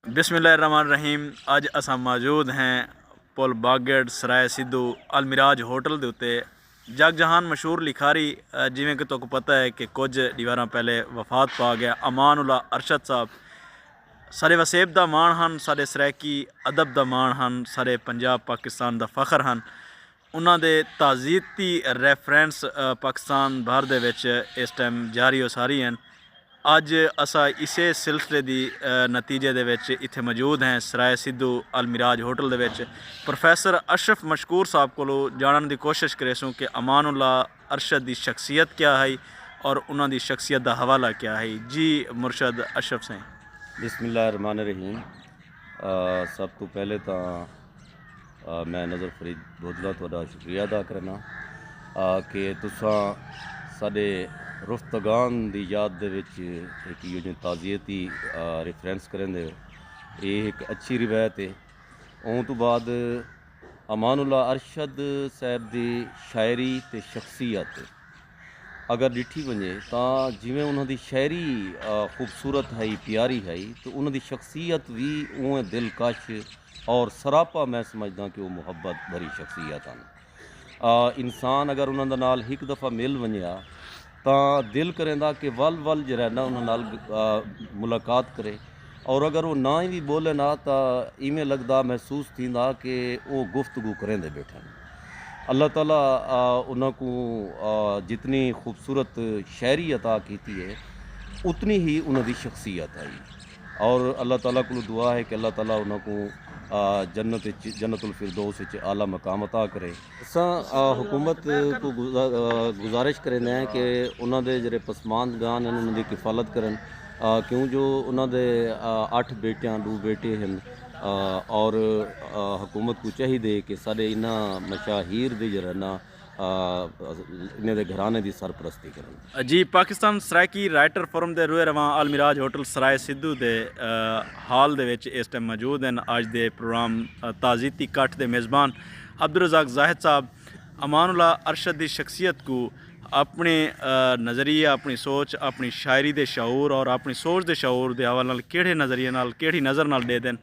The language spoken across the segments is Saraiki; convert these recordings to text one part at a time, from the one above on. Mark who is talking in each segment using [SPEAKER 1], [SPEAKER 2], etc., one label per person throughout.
[SPEAKER 1] بسم اللہ الرحمن الرحیم اج اساں موجود ہیں پل باگڈ سرائے سدھو المراج ہوٹل دے اتے جگ جہان مشہور لکھاری جویں کہ تک پتہ ہے کہ کچھ دیواراں پہلے وفات پا گیا امان اللہ ارشد صاحب سارے وسیب دا مان ہن سارے سرائیکی ادب دا مان ہن سارے پنجاب پاکستان دا فخر ہن انہاں دے تعزیتی ریفرنس پاکستان بھر دے وچ اس ٹائم جاری و ساری ہن۔ اج اسا اسے سلسلے دی نتیجے دے وچ اتھے موجود ہیں سرائے سدھو المراج ہوٹل دے وچ پروفیسر اشرف مشکور صاحب کولو جانن دی کوشش کریسوں کہ امان اللہ ارشد دی شخصیت کیا ہئی اور انہاں دی شخصیت دا حوالہ کیا ہئی۔ جی مرشد اشرف سئیں۔ بسم اللہ الرحمن
[SPEAKER 2] الرحیم سب توں پہلے تاں میں نظر فرید بودلہ تہاڈا شکریہ ادا کرنا کہ تساں ساڈے رفتگان دی یاد دے وچ ایک یوں جن تعزیتی ریفرنس کریں دے اے ایک اچھی روایت ہے اون تو بعد امان اللہ ارشد صاحب دی شاعری تے شخصیت اگر ڈٹھی ونجے تا جویں انہاں دی شاعری خوبصورت ہائی پیاری ہائی تو انہاں دی شخصیت وی اون دلکش اور سراپا میں سمجھداں کہ او محبت بھری شخصیت ہن۔ آ انسان اگر انہاں دے نال ہک دفعہ مل ونجیا تاں دل کریندا کہ ول ول جیرا ہے نا انہاں نال ملاقات کرے اور اگر او ناں وی بولن آ تاں ایویں لگدا محسوس تھیندا کہ او گفتگو کریندے بیٹھن۔ اللہ تعالی انہاں کوں جتنی خوبصورت شاعری عطا کیتی ہے اتنی ہی انہاں دی شخصیت ہئی۔ اور اللہ تعالی کولوں دعا ہے کہ اللہ تعالی انہاں کوں جنت اچ جنت الفردوس اچ اعلی مقام عطا کرے۔ اساں حکومت توں گزارش کریندے ہیں کہ انہاں دے جیہڑے پسماندگان ہن انہاں دی کفالت کرن کیوں جو انہاں دے اٹھ بیٹیاں ڈو بیٹے ہن اور حکومت کوں چاہیدے کہ ساڈے انہاں مشاہیر دے جیہڑا نا انھیں دے گھرانے دی سرپرستی کرن۔ جی پاکستان
[SPEAKER 1] سرائیکی رائٹر فورم دے روئے رواں آل میراج ہوٹل سرائے سدھو دے ہال دے وچ ایس ٹیم موجود ہن اج دے پروگرام تعزیتی کٹھ دے میزبان عبدالرزاق زاہد صاحب امان اللہ ارشد دی شخصیت کوں اپنڑے نظریے اپنڑی سوچ اپنڑی شاعری دے شعور اور اپنڑی سوچ دے شعور دے حوالے نال کیہڑے نظریے نال کیہڑی نظر نال ڈیدن۔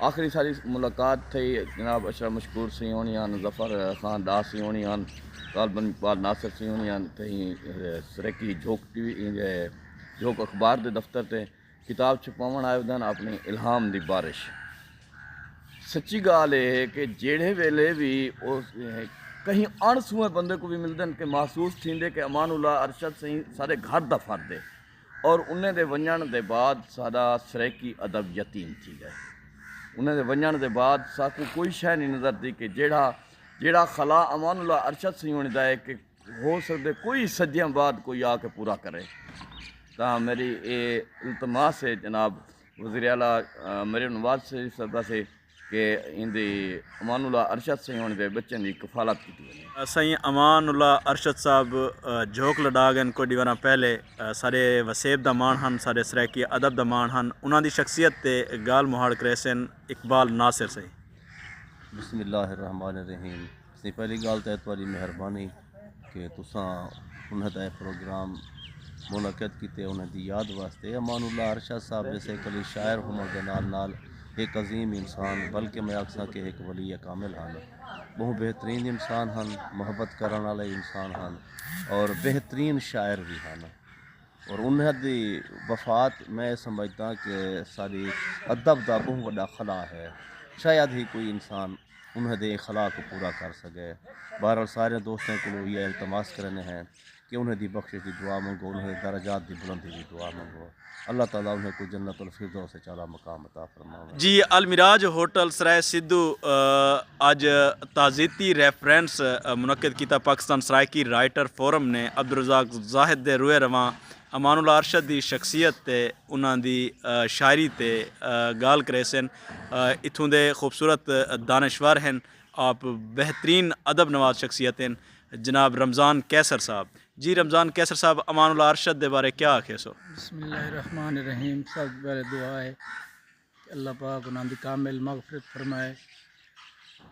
[SPEAKER 3] آخری ساری ملاقات تھئی جناب اشرف مشکور سی ہونی ہن ظفر خان دا سی ہونی ہن طالبن اقبال ناصر سی ہونی ہن تہیں سریکی جھوک ٹی وی جھوک اخبار دے دفتر تے کتاب چھپاون آئے ودن اپنی الہام دی بارش سچی گال اے ہے کہ جیڑھے ویلے بھی کہیں اڑ سوئے بندے کو بھی ملدن کہ محسوس تھیندے کہ امان اللہ ارشد سہی سارے گھر دا فرد ہے اور انہیں دے ونجنڑ دے بعد ساڈا سرائیکی ادب یتیم تھی گئے۔ انہیں دے ونجنڑ دے بعد ساکوں کوئی شے نی نظر دی کہ جیڑھا جیڑھا خلا امان اللہ ارشد سئیں ہونی دا ہے کہ ہو سکدے کوئی صدیاں بعد کوئی آ کے پورا کرے۔ تاں میری اے التماس ہے جناب وزیر اعلی مریم نواز شریف صاحبہ سے۔ کہ ایندے امان اللہ ارشد سئیں ہوݨ دے بچیں دی کفالت کیتی ونڄے۔ سئیں امان
[SPEAKER 1] اللہ ارشد صاحب جھوک لݙا ڳن کجھ وراں پہلے سارے وسیب دا ماݨ ہن سارے سرائیکی ادب دا ماݨ ہن انہاں دی شخصیت تے ڳالھ مہاڑ کریسن اقبال ناصر سئیں۔ بسم اللہ الرحمن
[SPEAKER 2] الرحیم۔ سائیں پہلی گالھ تاں تہاݙی مہربانی کہ تساں انہاں دا اے پروگرام منعقد کیتے انہاں دی یاد واسطے امان اللہ ارشاد صاحب جیسے ہک علی شاعر ہووݨ دے نال نال ہک عظیم انسان بلکہ میں آکھساں کہ ہک ولی کامل ہن ٻہوں بہترین انسان ہن محبت کرݨ آلے انسان ہن اور بہترین شاعر وی ہن۔ اور انہاں دی وفات میں اے سمجھداں کہ ساڈی ادب دا بہوں وڈا خلا ہے شاید ہی کوئی انسان انہاں دے ایں خلا کوں پورا کر سگے بہرحال سارے دوستاں کولوں ایہا التماس کریندے ہیں کہ انہاں دی بخشش دی دعا منگو انہاں دے درجات دی بلندی دی دعا منگو اللہ تعالی انہاں کوں جنت الفردوس اچ اعلی مقام عطا جی المراج
[SPEAKER 1] ہوٹل سرائے سدھو اج تعزیتی ریفرنس منعقد کیتا پاکستان سرائیکی رائٹر فورم نے عبدالرزاق زاہد دے روئے رواں امان اللہ ارشد دی شخصیت تے انہاں دی شاعری تے گالھ کریسن اتھوں دے خوبصورت دانشور ہن آپ بہترین ادب نواز شخصیت ہن جناب رمضان قیصر صاحب جی رمضان قیصر صاحب امان اللہ ارشد دے بارے کیا آکھیسو؟ بسم اللہ الرحمن الرحیم
[SPEAKER 4] سب توں پہلے دعا ہے کہ اللہ پاک انہاں دی کامل مغفرت فرمائے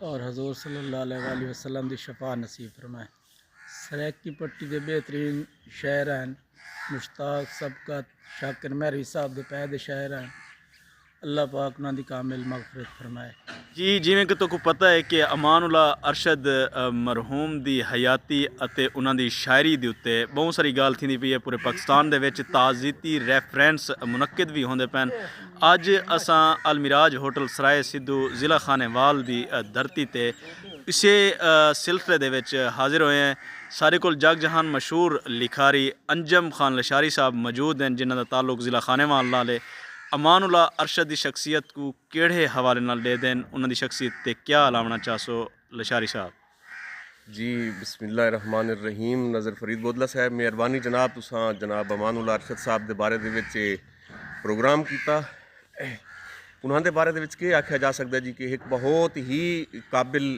[SPEAKER 4] اور حضور صلی اللہ علیہ وآلہ وسلم دی شفاعت نصیب فرمائے سرائیکی پٹی دے بہترین شاعر ہن مشتاق سبقت شاکر مہروی صاحب دے پائے دے شاعر ہن اللہ پاک انہاں دی کامل مغفرت فرمائے۔ جی جیویں کہ
[SPEAKER 1] تہاکوں پتہ ہے کہ امان اللہ ارشد مرحوم دی حیاتی اتے انہاں دی شاعری دے اتے بہوں ساری گالھ تھیندی پئی ہے پورے پاکستان دے وچ تعزیتی ریفرنس منعقد وی ہوندے پئن اج اساں المراج ہوٹل سرائے سدھو ضلع خانے وال دی دھرتی تے اسے سلسلے دے وچ حاضر ہوئے ہیں سارے کول جگ جہان مشہور لکھاری انجم خان لشاری صاحب موجود ہیں جنہاں دا تعلق ضلع خانے وال نال ہے۔ امان اللہ ارشد دی شخصیت کوں کیڑھے حوالے نال ڈیدھن انہاں دی شخصیت تے کیا الاونڑاں چاہسو لشاری صاحب۔ جی
[SPEAKER 5] بسم اللہ الرحمن الرحیم نذر فرید بودلہ صاحب مہربانی جناب تساں جناب امان اللہ ارشد صاحب دے بارے دے وچ اے پروگرام کیتا انہاں دے بارے دے وچ کے آکھیا جا سکدا جی کہ ہک بہت ہی قابل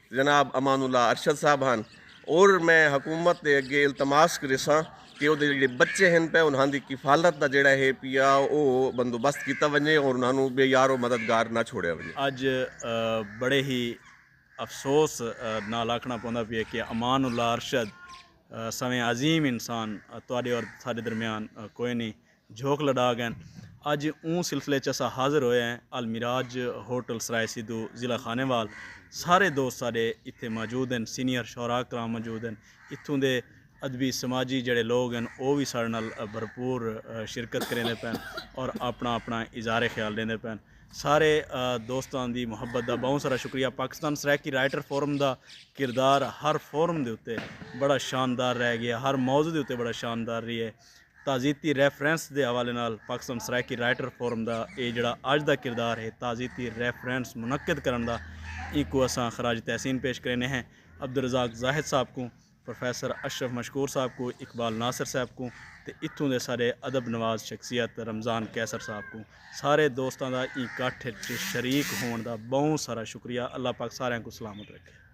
[SPEAKER 5] جناب امان اللہ ارشد صاحب ہن اور میں حکومت دے اگے التماس کریساں کہ او دے جڑے بچے ہن پہ انہاں دی کفالت دا جڑا ہے پیا او بندوبست کیتا ونجے اور انہاں نوں بے یار و مددگار نہ چھوڑیا ونجے۔ اج
[SPEAKER 1] بڑے ہی افسوس نال آکھنا پوندا پیا کہ امان اللہ ارشد سویں عظیم انسان تہاڈے اور ساڈے درمیان کوئنی جھوک لڈا گئن۔ اج اوں سلسلے چ اساں حاضر ہوئے ہیں المراج ہوٹل سرائے سدھو ضلع خانے وال سارے دوست ساڈے اتھے موجود ہن سینئر شعراء کرام موجود ہن اتھوں دے ادبی سماجی جیڑھے لوگ ہن او وی ساڈے نال بھرپور شرکت کریندے پن اور اپنا اپنا اظہار خیال ڈیندے پن سارے دوستاں دی محبت دا بہوں سارا شکریہ پاکستان سرائیکی رائٹر فورم دا کردار ہر فورم دے اتے بڑا شاندار رہ گئے ہر موضوع دے اتے بڑا شاندار رہیے تعزیتی ریفرنس دے حوالے نال پاکستان سرائیکی رائٹر فورم دا اے جیڑھا اج دا کردار ہے تعزیتی ریفرنس منعقد کرݨ دا اینکوں اساں خراج تحسین پیش کریندے ہیں عبدالرزاق زاہد صاحب کوں، پروفیسر اشرف مشکور صاحب کوں، اقبال ناصر صاحب کوں تے اتھوں دے ساݙے ادب نواز شخصیت رمضان قیصر صاحب کوں سارے دوستاں دا ایں کٹھ اچ شریک ہووݨ دا ٻہوں سارا شکریہ اللہ پاک ساریاں کوں سلامت رکھے۔